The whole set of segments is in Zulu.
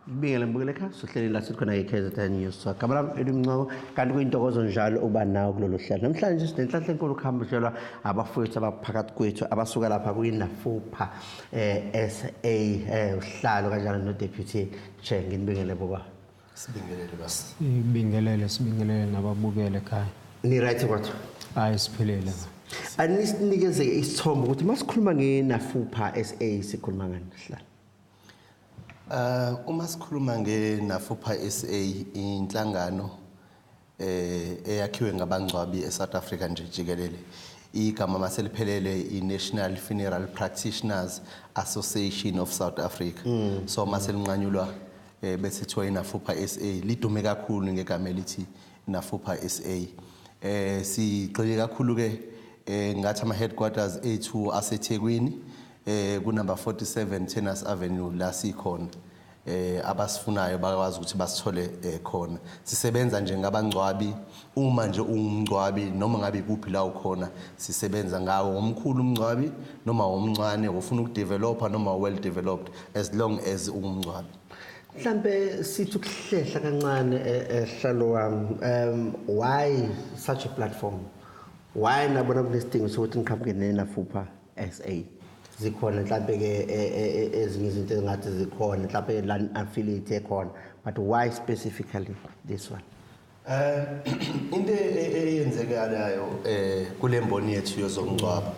Ngibingelele mbukeleka sohleleni la sikhona iKZN News. So gama lami elimncoko kanti kuyintokozo njalo uba nawo kulolu hlelo. Namhlanje sinenhlanhla enkulu kuhamba hlelwa abafowethu abaphakathi kwethu abasuka lapha kuyinafupha eh SA eh uhlalo kanjalo no deputy chair nginibingelele boba. Sibingelele basi. Sibingelele, sibingelele nababukele ekhaya. Ni right kodwa? Hayi siphilile. Anisinikeze isithombe ukuthi masikhuluma ngenafupha SA sikhuluma ngani sihlala. Uh uma sikhuluma ngenafupha SA inhlangano eh, eyakhiwe ngabangcwabi eSouth Africa nje jikelele igama maseliphelele i-National Funeral Practitioners Association of South Africa mm. so maselinqanyulwa eh, bese kuthiwa inafupha SA lidume kakhulu ngegama elithi nafupha SA eh sigxile kakhulu ke eh ngathi ama headquarters ethu aseThekwini eh ku number 47 Tennis Avenue la sikhona eh abasifunayo bakwazi ukuthi basithole eh, khona sisebenza nje ngabangcwabi uma nje ungumngcwabi noma ngabe kuphi la ukhona sisebenza ngawo womkhulu umngcwabi noma womncane ufuna ukudeveloper noma well developed as long as ungumngcwabi mhlambe sithi ukuhlehla kancane ehlalo eh, wam um why such a platform why nabona kunesidingo sokuthi ngiqhamuke nenafupha SA. Zikhona mhlampe ke e, e, e, ezinye izinto ezingathi zikhona mhlampe la affiliate ekhona but why specifically this one? Eh into eyenzekalayo eh kulemboni yethu yozomngcwaba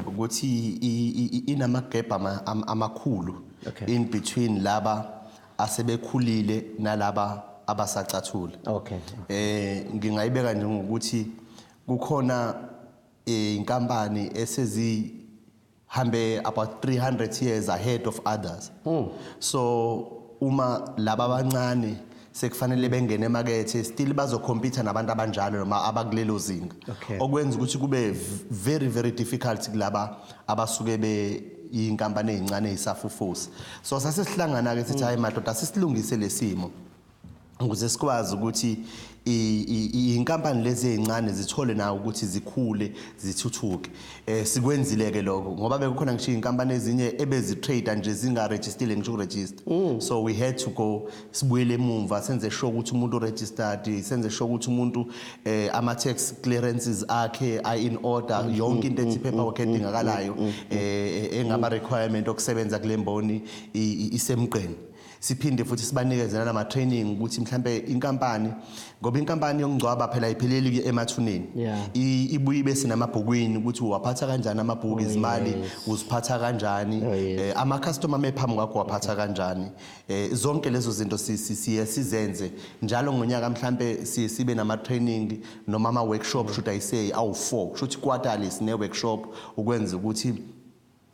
ukuthi inamagebha amakhulu in between laba asebekhulile nalaba abasacathula okay eh ngingayibeka nje ngokuthi kukhona inkampani esezihambe about 300 years ahead of others mm. so uma laba abancane sekufanele bengene emakethe still bazokhompitha nabantu abanjalo noma abakulelo zinga okay. okwenza ukuthi kube very very difficult kulaba abasuke be inkampani ezincane ezisafufusa so sasesihlangana ke sithi hayi madoda sisilungise lesimo ukuze sikwazi ukuthi inkampani lezi ezincane zithole nawo ukuthi zikhule zithuthuke eh sikwenzile ke lokho ngoba bekukhona ngisho inkampani ezinye ebezi trade nje zinga registered ngisho register mm. so we had to go sibuyele emumva senze sure ukuthi umuntu registered senze sure ukuthi umuntu eh ama tax clearances akhe are in order mm, yonke into mm, ethi paperwork edingakalayo eh, eh engaba requirement okusebenza kulemboni isemgqeni siphinde futhi sibanikeze nalama training ukuthi mhlambe inkampani ngoba inkampani yokungcwaba phela ipheleli ke emathuneni ibuye bese namabhukwini ukuthi uwaphatha kanjani amabhuku oh, izimali uziphatha kanjani oh, eh, ama customer mephambi kwakho waphatha kanjani eh, zonke lezo zinto siye sizenze njalo ngonyaka mhlambe sibe nama training noma ama workshop should i say awu 4 should quarterly sine workshop ukwenza ukuthi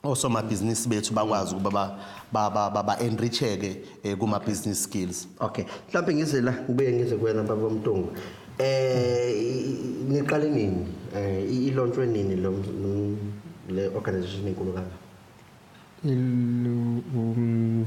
osomabhizinisi bethu bakwazi ukuba ba-enricheke ba, ba, ba eh, kuma-business skills okay mhlawumbe ngize la ngibuye ngize kuwena baba mntungu eh niqale nini eh ilontshwe nini lo le organization enkulu kangaka um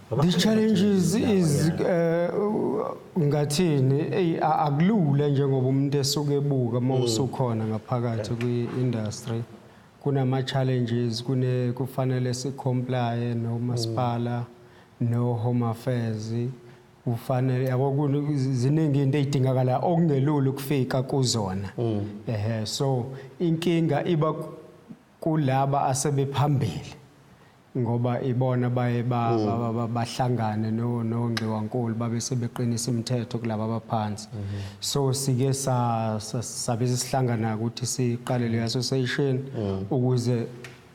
These challenges is eh, ngathini ey akulula njengoba umuntu esuke ebuka uma mm. usukhona ngaphakathi kwi-industry kunama challenges kune kufanele si comply no masipala mm. no home affairs ufanele yabo kuziningi into ezidingakala okungelula ukufika kuzona mm. ehe so inkinga iba kulaba asebephambili ngoba ibona baye mm. bahlangane nongxiwankulu babe sebeqinisa imithetho kulaba abaphansi mm-hmm. so sike sabe sesihlangana ukuthi siqale le association mm. ukuze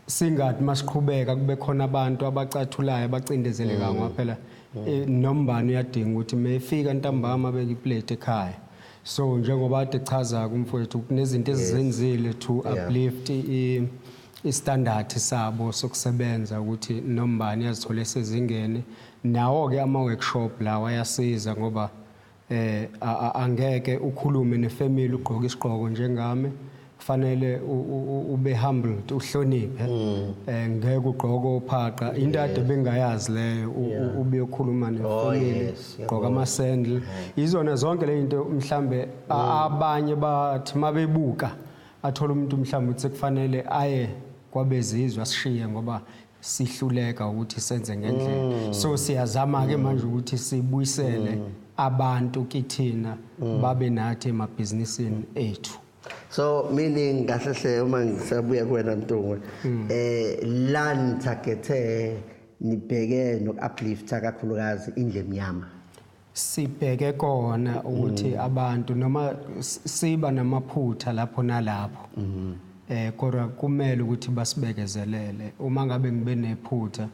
singathi masiqhubeka kube khona abantu abacathulayo abacindezelekayo mm. ngoba phela mm. eh, nombani uyadinga ukuthi mefika ntambama beke iplate ekhaya so njengoba ade chaza kumfowethu kunezinto ezizenzile to uplift istandard sabo sokusebenza ukuthi nombani yazithola esezingeni nawo ke ama workshop lawa ayasiza ngoba eh angeke ukhulume nefamily ugqoka isigqoko njengami kufanele ube humbled uhloniphe mm. eh ngeke ugqoke ophaqa into ade bengayazi leyo ubuyokhuluma oh, nefamily gqoka ama sandal mm-hmm. izona zonke le into mhlambe mm. abanye bathi mabebuka athola umuntu mhlambe uthi kufanele aye kwabezizwa sishiye ngoba sihluleka ukuthi senze ngendlela mm. so siyazama ke manje ukuthi sibuyisele abantu kithina babe nathi emabhizinisini ethu so meaning kahle hle uma ngisabuya kuwena Mtungwe hmm. eh la nithagethe nibheke nokuuplifta kakhulukazi indle emnyama sibheke kona ukuthi hmm. abantu noma siba namaphutha lapho nalapho hmm. eh kodwa kumele ukuthi basibekezelele uma ngabe ngibe nephutha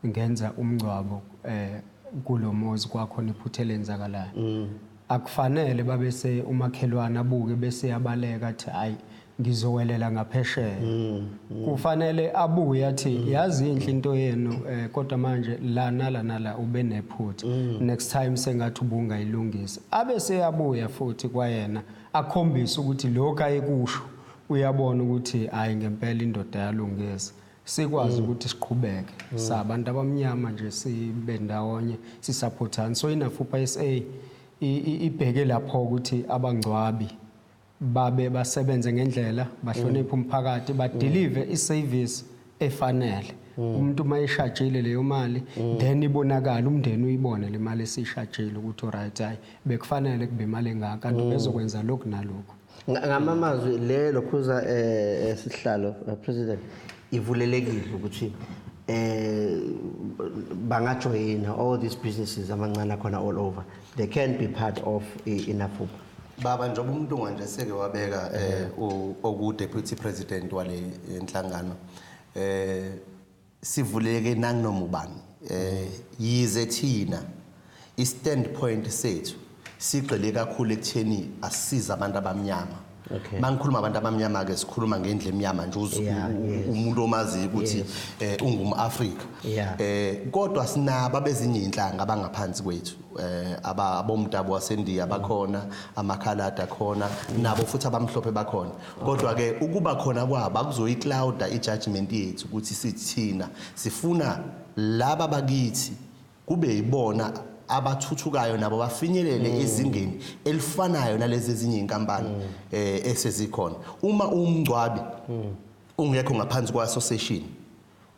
ngenza umngcwabo eh kulomuzi kwakhona iphutha elenzakalayo mm. akufanele babese umakhelwane abuke bese yabaleka athi hayi ngizowelela ngaphesheya mm, mm. kufanele abuye athi mm. yazi inhle into yenu eh, kodwa manje la nala nala ube nephutha mm. next time sengathi ubungayilungisa abe seyabuya futhi kwayena akhombise ukuthi lokho ayekusho uyabona ukuthi hayi ngempela indoda yalungisa sikwazi ukuthi siqhubeke sabantu abamnyama nje sibe ndawonye sisaphothana so inafupa sa i- i- ibheke lapho ukuthi abangcwabi babe basebenze ngendlela bahloniphe umphakathi badelive iservice efanele umuntu uma eshajile leyo mali then ibonakala umndeni uyibone le mali esishajile ukuthi oright hayi bekufanele kube imali engaka kanti bezokwenza lokhu nalokhu ngamamazwi le lokhuza eh, eh sihlalo eh, president ivulelekile ukuthi eh bangajoyina all these businesses amancane akhona all over they can be part of inafuba baba njengoba umuntu nganje seke wabeka eh oku deputy president wale enhlangano eh sivuleke nanginoma ubani eh yize thina i standpoint sethu sigxile kakhulu ekutheni asiza abantu abamnyama Okay. Mangikhuluma abantu abamnyama ke sikhuluma ngendle emnyama nje uzu- Yeah, u- yes. umuntu omazi ukuthi Yes. eh ungumAfrika. Yeah. Eh kodwa sinaba bezinye inhlanga abangaphansi kwethu. Eh aba abomdabu waseNdiya bakhona, amakhalada khona, nabo futhi abamhlophe bakhona. kodwa ke ukuba khona kwabo akuzoyiclouda ijudgment yethu ukuthi sithina sifuna laba bakithi kube yibona abathuthukayo nabo bafinyelele mm. ezingeni elifanayo nalezi ezinye inkampani mm. eh esezikhona uma umngcwabi mm. ungekho ngaphansi kwa association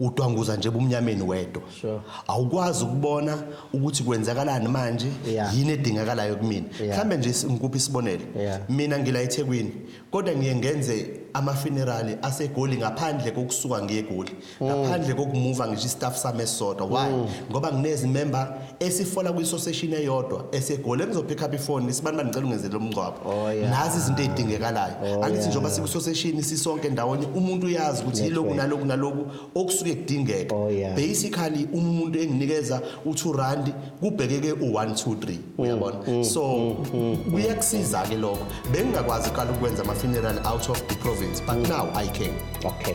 udwanguza nje ebumnyameni wedwa sure. awukwazi ukubona ukuthi kwenzakalani manje yeah. yini edingakalayo kumina mhlawumbe yeah. nje ngikuphi isibonelo yeah. mina ngila ethekwini kodwa ngiye ngenze amafunerali asegoli ngaphandle kokusuka ngegoli mm. ngaphandle kokumuva ngisho istaff sami esisodwa why mm. ngoba nginezimember esifola kwisoseshini eyodwa esegoli engizophikha up ifoni sibani banicela ungenzele umngcwabo Oh, yeah. nazi izinto ezidingekalayo Oh, angithi yeah. njengoba sikwisoseshini sisonke ndawonye umuntu uyazi ukuthi That's yiloku right. naloku naloku okusuke kudingeka Oh, yeah. basically uma umuntu enginikeza u2 rand kubhekeke u1 2 3 Mm, uyabona so kuyakusiza ke lokho bengingakwazi qala ukwenza ama funeral out of the province but now i can okay